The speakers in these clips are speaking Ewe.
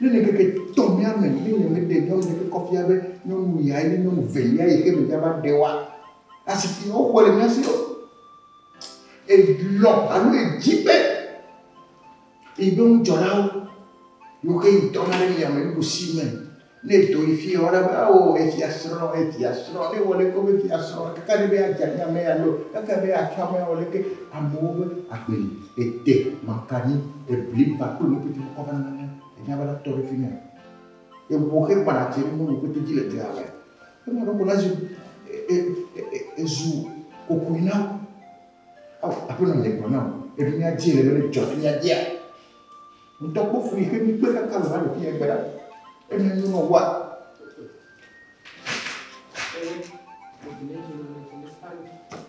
Ne le ŋkeke etɔ̃lia me, ne le meɖe nyɔnu ɖe ƒe kɔfia be nyɔnu yae nye nyɔnu velia yi xe me dza va ɖe woa, asi si woxɔe le mía si o. Elɔ alo edi be yi be ŋudzɔlawo yewo xe yi dɔna ɖe yame nuɖusi me. Ne edo yi fia woana be ao efiasrɔ̃ efiasrɔ̃ ne wɔ ɖe ko be fiasrɔ̃ kaka ɖe be adze ame alo kaka be atsɔ ame awɔ ɖe ke amewo be agbe li. Ete maka nyi ebli va kple nu pete kɔ va na ne enya va la tɔ ɖe fimia. Ewo xe kpa na tse nu nu pete dzi le dea wɛ. Ema ɖo ko la zu e e e zu kokui na wo. Ao aƒe nɔ nye gblɔ na wo. Eɖo mía dzi le be ne dzɔ fimia dzia. Ŋutɔ kpɔ fui xe mi kpe kaka le va ɖo fimia gbe ɖa. Ena nyo nɔ wa. Thank you.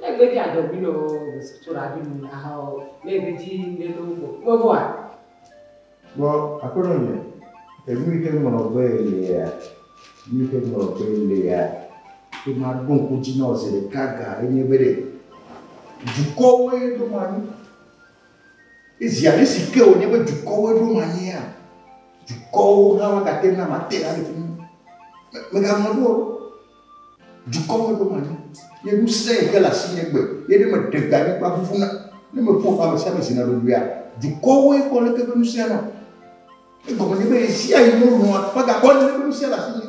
Ne egbe dzi adɔ bi nɔ gbesi tso ɖa bi nu le aha o, ne egbe dzi ŋɖe nɔ gbɔ gbɔ gbɔ a. Vɔ Aƒenɔ nye, enu yi ke ŋlɔ be lea, nu yi ke ŋlɔ be lea, ke ma ɖo ŋku dzi nɔ zi ɖeka ga ye nye be ɖe dukɔwoe ɖo ma nyi. Ezi ale si ke wònye be dukɔwoe ɖo ma nyia, dukɔwo hã ma gate ŋu na mate ɖa le fi mi. Mègaŋlɔ ɖo o. Dukɔwo ɖom anyi, ye nu sẽe xe le asinye egbe, ye ne meɖe gbe anyigba ʋuʋuna, ne meƒo ƒe amesiame zina ɖoɖoea, dukɔwoe kpɔ aleke eƒe ŋusẽa nɔ. Egɔme nye be ɣesiaɣi melɔ̃a megakpɔ aleke eƒe ŋusẽa le asinye.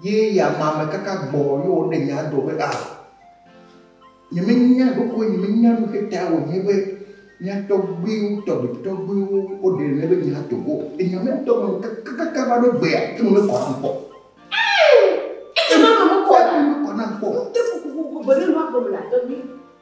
Ye ya ma me kaka gbɔ ye wo ne nya do be a ah, nye me nya do ko nye me nya do ke ta wo nye be nya to gbe wo to gbe to gbe wo o de ne be nya to go e nya me to me kaka kaka ba do gbe ya ke me ko na ko e ke me me ko na me ko na ko te ko ko ko ko bere lo ko me la to ni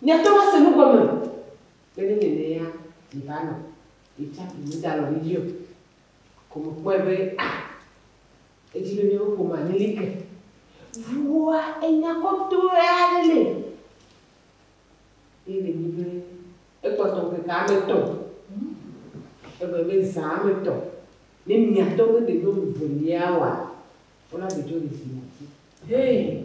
Miate ŋu ase nu gɔme be ne nye nɛa, miva nɔ yetsam ƒo nu dalɔ mi dzi o. Ko mekpɔe be a edzi be miawo ƒomea mi li ke. Ŋuwòa enya kɔtɔe aɖe li. Ye le nyi be ekpɔtɔ ŋkeke ame etɔ̃. Egɔme be zã ame etɔ̃. Ne miatɔ be ɖe nyɔnu velia wɔa, wona ɖe dzo le zia dzi. Hee.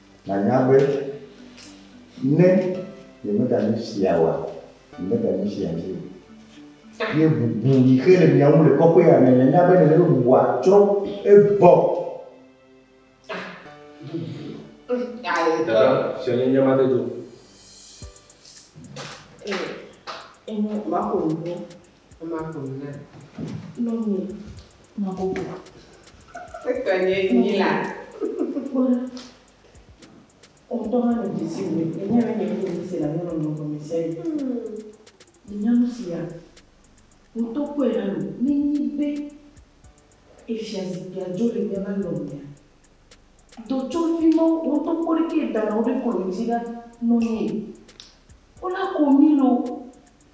Nànya be, ne nyemeganyo fia oa, nyemeganyo fia vi o. Ye bubu yi xe le mia ŋu le kɔƒea me, nànya be nèle be bubua tsrɔ̃ egbɔ. Dada, fia nye nye mate do. Ee, enyo, maƒo nu. Ema ƒom na. Lɔ nu ma bɔbɔ. Etɔ nye nyi la. Kpɔ ɖa. Wò ŋutɔ hã nɔ dzesi wum be nye hã nye ŋutɔ dzesi le nyɔnɔnɔ me gɔme sia ɣi. Mìnya nu sia. Wò ŋutɔ kpɔe hã nu. Ne enye be efiazikpuia dzo le míaƒe alɔmea, do tso fi ma. Wò ŋutɔ kpɔ ɖeke da nɔ woɖe kɔnu dzi ɖa nɔ nye. Wona ko mí loo.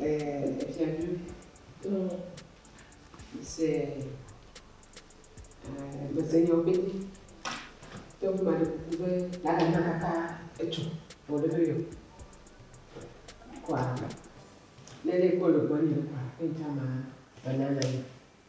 E, Efiadu, to se e, mesenyawo pete, to ƒe maɖe kuku be lala na kaka etsɔ vɔ ɖe ɖo yɔ. Kɔa, ne ɖe kpɔ le gbɔ nye kɔa, enta ma banana.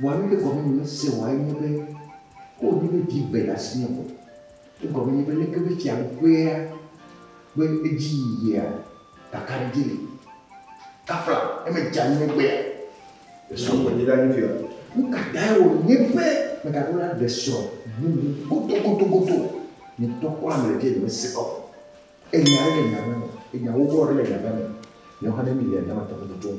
Vɔa nuke gɔme nyemese oa enye be ko wonye be vi gbe le asinye ko. Egɔme nye be leke be fia ŋkɔea ƒe edzi yiyia kakaɖedzi li. Kafla ne medze anyi ne gbea esɔ gbɔ nye ɖa nye fia. Nukatae wònye be megaɖo la ɖe srɔ̃ bubu godogodogodo? Nyetɔ kpɔ ame le fia nyemese kɔ. Enya aɖe le nya me me. Enya wowoa aɖe le nya me me. Nyawo hã ne mi le nya me tɔxɛ tutum.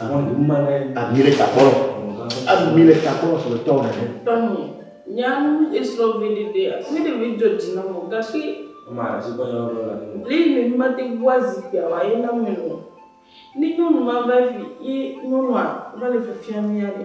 Ami le ta kpɔnɔ. Ami le ta kpɔnɔ sɔle tɔn nene. Tɔnye, nyanu esrɔ viɖe ɖe mi ɖe vi dzɔ dzi nɔmɔ gashi. Ma dzi kɔ nyɔ lɔ la nɔmɔ. Li mi mi mate bua zikpia wa ye na mi nɔ. Ni nyɔnu ma va fi ye nyɔnua va le fifia mi ya ɖe.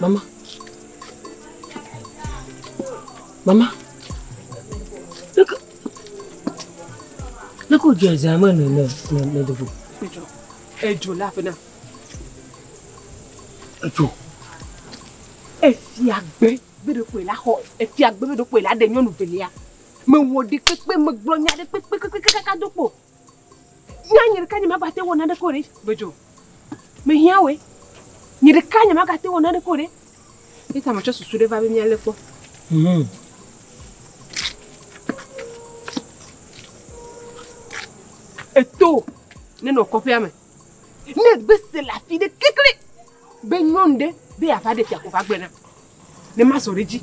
Mama. Mama. Look. Look who just I'm in the middle. Ejo laughing now. Ejo. Efiagbe beɖokwe la xɔ efiagbe beɖokwe la ɖe nyɔnu velia. Mewɔ ɖi kpekpe megblɔ nya ɖe kpekpe kpekpe kaka do kpo. Nya nye ɖeka nye magate wɔ naneke o ɖe. Medzo. Mehiã wòe. Nye ɖeka nye magate wɔ naneke o ɖe. Eta metsɔ susu ɖe va be míalé kpɔ. Hmm. Eto nenɔ kɔƒea me. Ne gbese le afi ɖe kekle be nyɔnu ɖe be yeava ɖe fia ko va gblɔe na. Ne mazɔ ɖe dzi.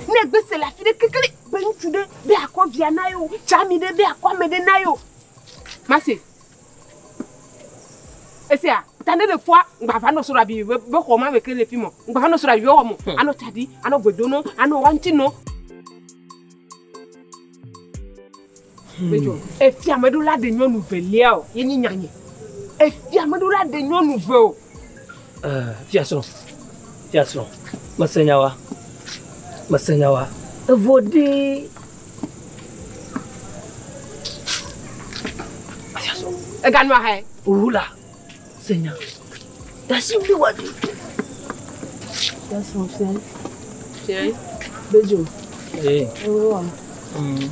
Ne egbe se le afi ɖe kekle be ŋutsu ɖe be akɔ via na yo, tsami ɖe be akɔ ame ɖe na yo. Mase. Esia, ta ne le fua, gbava nɔ sora bi be be xɔ ma me ke le fi mo. Gbava nɔ sora bi be xɔ mo. Hmm. Ano tadi, ano gbedono, ano wanti no. Efia meɖo la ɖe nyɔnu velia o, ye nyi nyanye. Efia meɖo la ɖe nyɔnu ve o. Eh, fia srɔ̃, fia srɔ̃, mese nyawa, mese nyawa. Evo ɖi. Fia srɔ̃. Ega nua hɛ. Wula. Senya, dasi bi wa di. Dasi wa fia. Fia. Bejo. Eh. Ewe wa. Mm.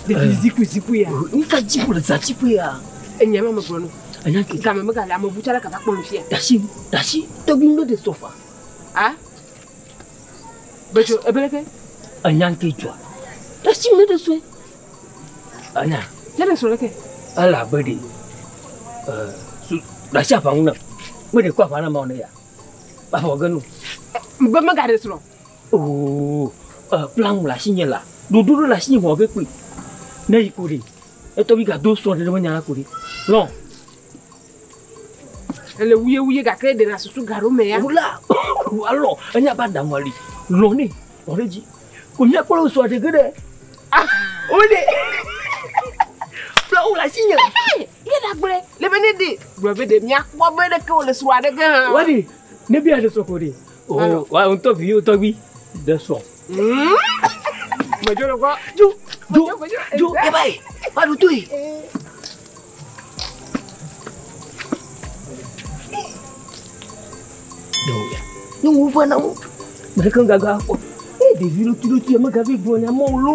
Depi eh. ziku ziku ya. Oh, ni ka ziku le za ziku ya. Enya ma me gblɔ no. Enya ti. Kame me gale amebu tsara kata kpɔ nu fia. Dasi dasi tɔgbi no de sofa. Ah. Betsɔ ebe ɖeke enya ŋke dzɔa. Esi me ɖe sue. Anya. Ya ɖe srɔ̃ ɖeke. Ele abe ɖe e su ɖasi aʋa ŋu na. Me ɖe kɔ aʋa na ma ne ya. Aʋa wɔ ge nu. Be me ga ɖe srɔ̃. Oo e plan le asi nye la. Ɖoɖo ɖe le asi nye wɔ ge kpui. Ne yi ko ɖe. Etɔ bi ga do srɔ̃ ɖe me nya la ko ɖe. Lɔ. Ele wuye wuye gake eɖe le asusu gaɖo me ya. Wula alɔ enya ba daŋu ali lɔ ne lɔ ɖe dzi. Wònya kpɔ lɔ sua ɖege ɖe. Ah, wòɖe. Fla wòle asi nye. Ye la gblẽ le be ne ɖe gblɔ be ɖe miakpɔ be ɖeke wòle sua ɖege hã. Wani ne bi aɖe sɔ ko ɖe. O oh, wa ŋutɔ vi yewo tɔgbi ɖe sɔ. Hmm? Medzro kɔ. Ju ju ju eba yi. Wa ɖu tu yi. nyɔnuwo ƒe na wo me ɖeke gaga kpɔ eye ɖevi ɖotuiɖotui megavi gblɔ nya mɔ lo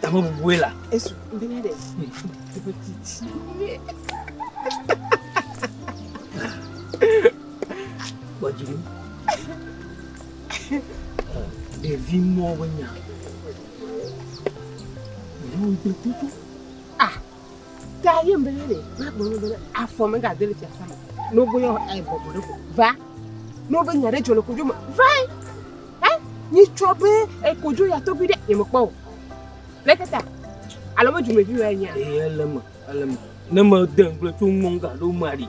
Tame bubue la. Esu be ne ɖe. Eƒe titi. Gbɔdzi mi. Ɖevi mɔ be nya. Ɖevi mɔ be nya. Ah. Ta ye mbele ne ma gbe no bele afɔ me ga dele fiasa me. No bo yo e bobo ɖe ko. Va. No be nya ɖe dzɔ le kodzo me. Va. Eh? Ni tsɔ be e kodzo ya tɔgbi ɖe ye me kpɔ. Le tata. Alo me djume vi wa nya. E le me, le me. Ne me de ngble to mo ga do mari.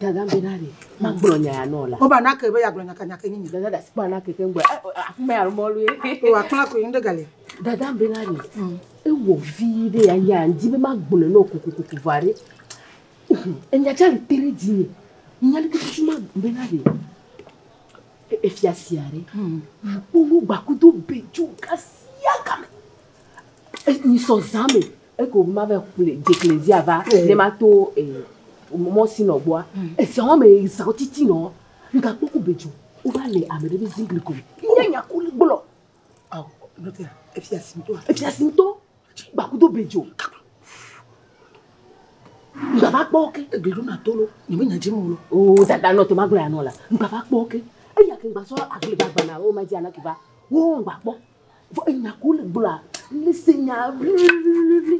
Dada be na ɖe magblɔ nya ya nɔ la. Wo ba na ke be ya gblɔ nyaka nyaka nyi. Dada da si ba na ke ke ngbe. Afuma ya mɔ lu. O wa kpla ko yin de gale. Dada be na ɖe. Mm. E wo vi de ya ya ndi be magblɔ no ko ko ko ko va re. E nya cha le tere di ni. Nya le kutu chuma be na ɖe. E, e fia sia re. Mm. Wo wo ba kutu be ju kasi ya kame. E ni so zame. Eke o mave kple dzekle zia va ne ma to mɔ si nɔ gbɔa. Ezia wɔme ezia titi nɔ nga kpɔ ko bedzo. O va le ame ɖe be zingli ko. Nye nya ko le gblɔ. Aw nɔte ya efia si ŋutɔ. Efia si ŋutɔ gba kudo bedzo. Nga va kpɔ ke egli ɖo na tolo. Nye me nya dzi mo lo. O zada nɔte ma gblɔ ya nɔ la. Nga va kpɔ ke. Eya ke gba sɔ agli gba gba na o ma dzi anaki va. Wo gba kpɔ. Vɔ enya ko le gblɔa, ne se nya ʋliʋliʋliʋli.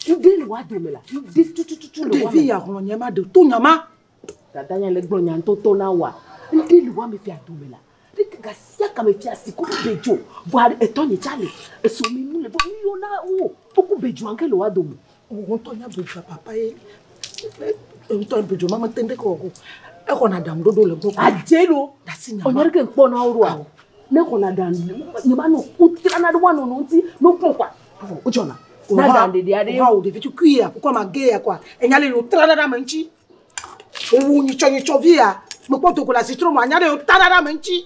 Ŋɖe le wa dome la, ŋɖe tutututu le wa me. Ɖevi ya hlɔ nye ma ɖe to nya ma. Dada nya le gblɔ nya ŋtɔtɔ na wa. Ŋɖe le wa me fia dome la. Ɖeke ga sia ga me fia si ko be dzo. Vɔa etɔ nye tsa le. Esɔ me nu le vɔ nu yɔ na wo. Wo ko be dzoa ŋke le wa dome. Ŋutɔ nya do dza papa ye. Ŋutɔ do dza mama tɛn ɖe kɔ ko. E ko na dam do do le gbɔ. A je lo. Da si na. Onyere ke kpɔ na oro a. Ne ko na dam. Ni ma no ku tira na do wa no no ti no ku kwa. O jona. Na dam de dia de. Wa o de vitu kui ya. Ko ma ge ya kwa. Enyale lo tira na dam nchi. Wowu nyitsɔnyitsɔ vi ya, mekpɔ do go le asitro me anya ɖe yewo ta ɖa ɖe ame ŋuti.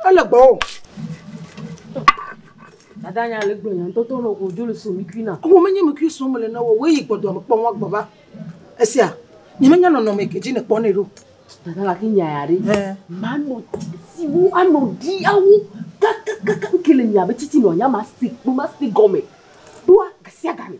Ele gbɔ o. Dada nya le gblɔ nya ŋutɔ to nɔ godzo le so mikui na. Wo menye mikui so mele na wo, woyi gbɔ doa mekpɔ ŋua gbɔ va. Esia, nye menya nɔnɔme ke dzi nekpɔ nɛ ɖo. Dada gake nya ya ɖe. Eh. Manɔ siwo anɔ ɖi awo kakakaka ke le mia be titi nɔ nya ma si kpo ma si gɔme. Ɖoa gasiagame.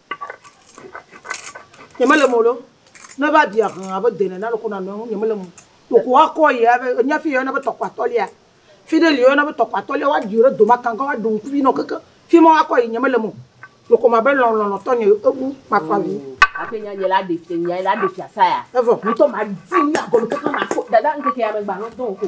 Nyemele eme o ɖo. Ne eva ɖi ahlã abe de nene aleke wònanɔ eŋu, nyemele eme o. Wò ko woakɔ ye abe, ènya fi yi woyɔna be tɔkpo atɔ̃lia? Fi ɖe li woyɔna be tɔkpo atɔ̃lia, woaɖi wò ɖe dome akãgã, woaɖe ŋkuvi nɔ kekeŋ. Fi ma woakɔ yi, nyemele eme o. Wò ko mabe lɔ̃ lɔlɔ̃ tɔnye o. Ebu makɔ avi. Hafi nya nye la ɖe fia, nya la ɖe fiasã ya. Evɔ. Ŋutɔ madi nya gɔme kekeŋ maso. Dada, ŋkeke ya megbe alɔ̃ dɔ o ko.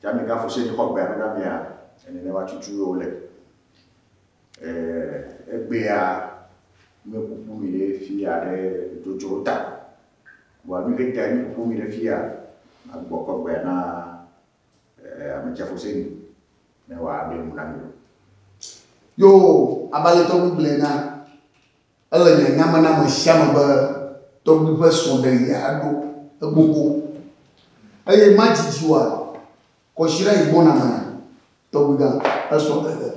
Tsa mi gafu se xɔ gbea nuna mia ene ne wa cucu yo le. Eh, egbea mi kuku mi le fia le dojo ta. Wa mi ke ta mi kuku mi le fia agbo kɔ gbea na eh ame tsa fu se ni ne wa be nuna mi. Yo, abalito mi gblena. Ele nye nya me na ame sia ame be tɔgbui ƒe srɔ̃ɖeɣia ɖo egbogbo eye madidi oa? Kɔsiɖa yi gbɔna mea? Tɔgbuigã, esrɔ̃ ɖeɖe.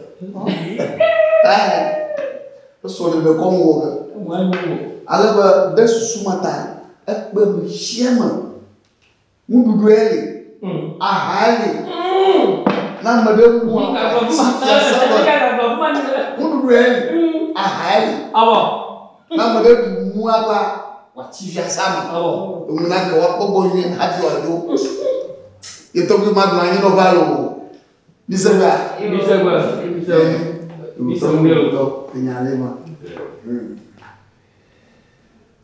Esrɔ̃ ɖeɖe kɔm wɔ ge. Ale be ɖe susu ma ta ekpe me sia me. nuɖuɖue li, ahae li. Ne ame ɖe ku a, safia safia nuɖuɖue li, ahae li. Ne ame ɖe ɖu nua gba wòatsi fiasea me. Enu na ke woakpɔ gbɔ nyuie hafi wòadzo. Ye tɔgbi ma nɔ anyi nɔ va loo. Mise gbea? Mise gbe. Mise gbe. Mise gbe. Enya le ma.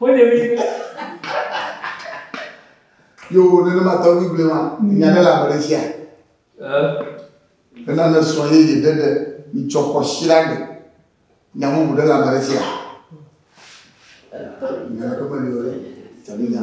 Wode mi be. Yo nenema tɔgbi gblẽ ma nya ɖe le ame ɖe tsia. Nena ne srɔ̃ yeye ɖe ɖe mitsɔ xɔ shira ɖe nya bubu ɖe le ame ɖe tsia. Nya ɖe ƒe meli o ɖe tsabi nya.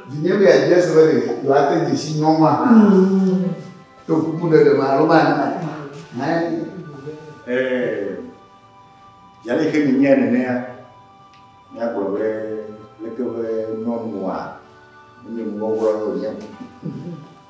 Vinye be yeadze ese be ɖe yewoate dze si nyɔnua hã to kukuɖeɖe me alo manae hã. Ɛɛ, zi aleke mienyae nenea, míagblɔ be leke be nyɔnua menye nuwɔwɔ ye wònye o.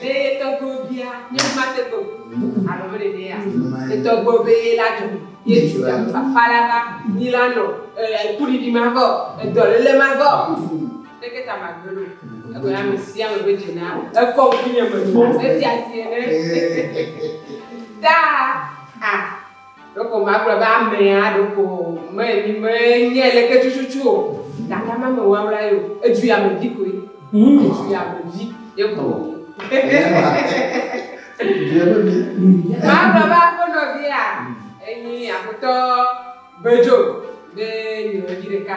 Ɖe ye tɔgbuiwo bia nye mate kpɔ ŋu alo mele nɛa? Ye tɔgbuiwo be ye la dzɔ ye tu alo fafa la va nyi la nɔ e kuɖiɖi ma vɔ e dɔlele ma vɔ neke ta ma gbe lo egbe ya me sia me be dze na ekɔ ŋku nye me lo a me fia sie ne ta a. Ɖeko magblɔ be amea ɖeko me mi me nye leke tututu o gake ame me wawla ye o edu ya me vi koe edu ya me vi ye ko wonye. Magblɔ be aƒe nɔvia enyi aƒetɔ Gbedzo be nyɔnyi ɖeka.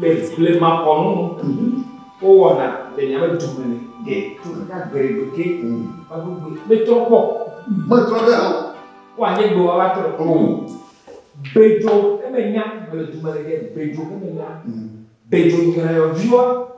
Le blemakɔnu nu, wowɔna le miaƒe du me ɖe to kaka gbeɖegbe ke vagbegbe metrɔ kpɔ o. Metrɔ ɖe hã o. Wo anye gbewa va trɔ. O. Bedzo emenya mele du me ɖe ke bedzo emenya. Bedzo nyɔyɔviwa.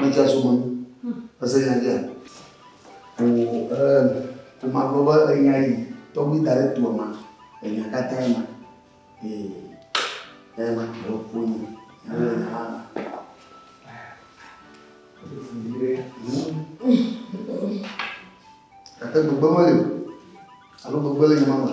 Medzea so me. Ese nya dzea? O, e, o ma gblɔ be enya yi tɔgbi da ɖe toa ma. Enya katã ma. Ee, e ma gblɔ ƒo nyi. Ele nya la ma. Gake gbegbe meli o. Alo gbegbe le nya ma ma.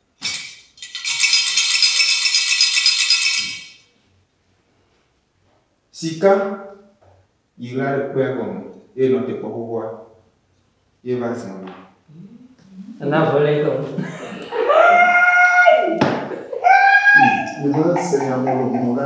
Sika yi la ɖe kpea gɔme eye nɔ te kpɔ xoxoa ye va zã me. Ena vɔlɛ tɔ. Ìva se nya mɔɖomɔɖa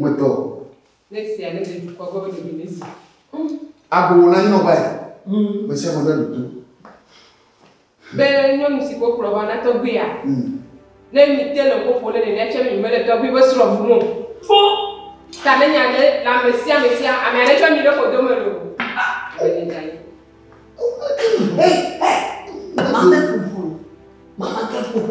Medɔ. Agbowó na nyinɔ va yi. Mesia me ɖe ɖoto. Be nyɔnu si ko kplɔ va na tɔgbia. Ne mi te le koko ne nene tsɛ mi mele tɔgbi be srɔ fu mo. Fo. Ta ne nya ɖe la mesia mesia ame aɖe tsɔ mi ɖe kodo me lo. Hey, hey. Mama ke ƒoƒo. Mama ke ƒoƒo.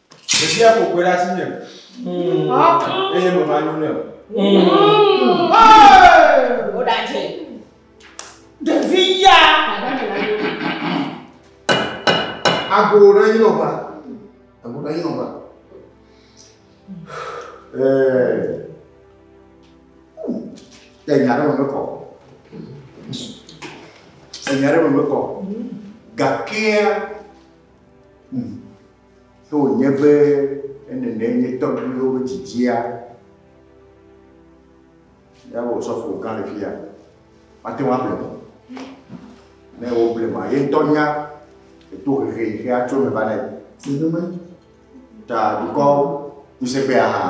Ɖevia ƒo kpe ɖe asinye eye meva nyo nɛ o. Woɖadze. Ɖevi ya. Agbo na yi nɔba. Agbo na yi nɔba. Ẹ̀yà rẹ̀ mọ̀ mẹ́kọ̀. Ẹ̀yà rẹ̀ mọ̀ mẹ́kọ̀. Gàkíá. Ne wònye be nenemae nye tɔgbuiwo ƒe dzidzia, míaƒe Osɔfo gã le fiya, mate ŋu ablema o. Ne woblema, ye ŋutɔ nya le tohehe yi xe atso eme va na yi. Nenemae. Ta dukɔ ŋusẽgbea hã.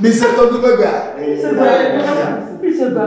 Mise tɔgbuiwo ƒe gbea. Mise gbea. Mise gbea.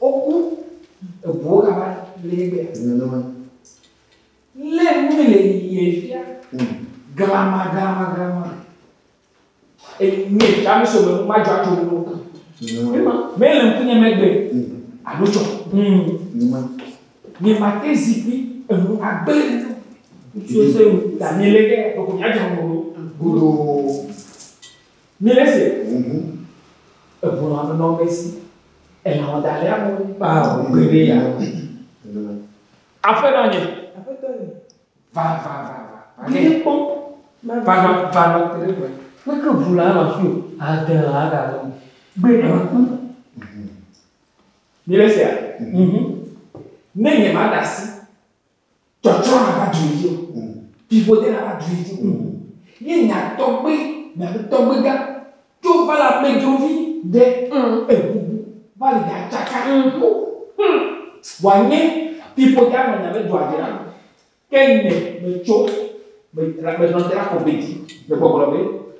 Woku eŋuwo kaba le ye gbea. Nenema. Lé nui le yie fia. Hmm. Glama, glama, glama. Enye ta mi so me ma jɔ ato wo. Nenema. Me le ŋkunye megbe. Hmm. Alo tsɔ. Hmm. Nenema. Nye ma te zikpui enu agbe. Ŋutsu se ŋu. Daniele ke, ɖoko mia jɔ ŋu. Gudo. Nye ese ʋuʋu eʋu la me nɔm esi elã wɔ da le ame ŋu kpa ʋu ge ɖe ya ŋu. Aƒenɔ nye. Aƒetɔ nye. Va, va, va, va. Nye kpɔ. Va, va, va, va, va, te ɖe me. Meke ʋu la nɔ fi o, ade lã la ɖa nɔ. Gbe ɖe ma kpɔ. Nye le sea? Ne nye ma ɖe asi. Tsɔtsɔ na va dui dzi o. Vivoɖe na va dui dzi o. Ye nya tɔgbe miabe tɔgbega tso va le amedzrovi ɖe eŋubu va le ɖa tsaka yo. Wa nye vivoɖe anɔ nya be dua dzra. Ke nye me tso me la me nɔ te la kɔ be dzi le gbɔgblɔ be